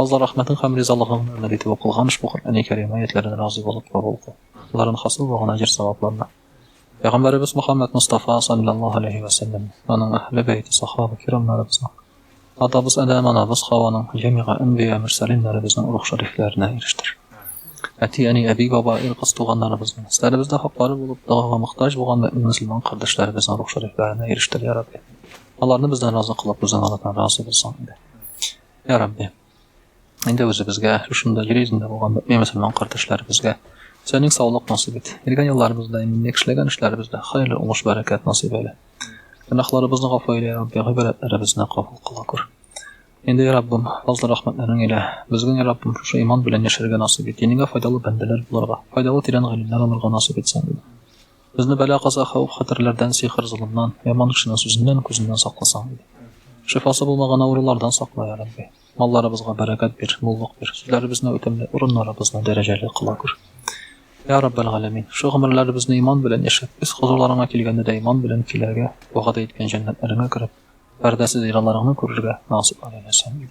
Алла рәхмәтең һәм ризалыгың нәмәл итеп укылган ошбу Коръәни Кәрим аятьләрен разый булып кабул кыл. Аларын хасил булган әҗер-савапларны Пәйгамбәребез Мөхәммәд Мостафа салләллаһу алейһи вә сәлләм, аның әһле бәйте, сахаба кирамнарыбызның, атабыз Адәм, анабыз Хаваның, җәмигә әнбия, мөрсәлиннәребезнең рух шәрифләренә ирештер. Әти, әни, әби, баба, ир-кыз туганнарыбызның, өсләребездә хаклары булып, догага мохтаҗ булган мөэмин мөселман кардәшләребезнең рух шәрифләренә ирештер, йә Рабби. Аларны бездән разый кылып, үзең алардан разый булсаң иде. Йә Рабби, инде үзебезгә, шушында җир йөзендә булган мөэмин мөселман кардәшләребезгә Сәнең саулык насыйп ит. Элгән елларыбызда, иминле эшләгән эшләребездә хәерле уңыш бәрәкәт насыйп әйлә. Гөнаһларыбызны гафу әйлә, Рабби, гыйбрәтләребезне кабул кыла күр. Инде, Раббым, фазлы рәхмәтләрең илә. Безгә, Раббым, шушы иман белән яшәргә насыйп ит. Динеңә файдалы бәндәләр булырга, файдалы тирән гыйлемнәр алырга насыйп ит Сәнең. Безне бәла-каза, хәвеф-хәтерләрдән, сихер-золымнан, яман кешенең сүзеннән, күзеннән сакласаң иде. Шифасы булмаган авырулардан сакла, йә Рабби. Малларыбызга бәрәкәт бир, муллык бир, сүзләребезне үтемле, урыннарыбызны дәрәҗәле кыла күр. Йә Раббәл галәмин, шул гомерләребезне иман белән яшәп, үз хозурларыңа килгәндә дә иман белән килергә, вәгъдә иткән җәннәтләреңә кереп, пәрдәсез ризаларыңны күрергә насыйп айл, йә Сәмигъ.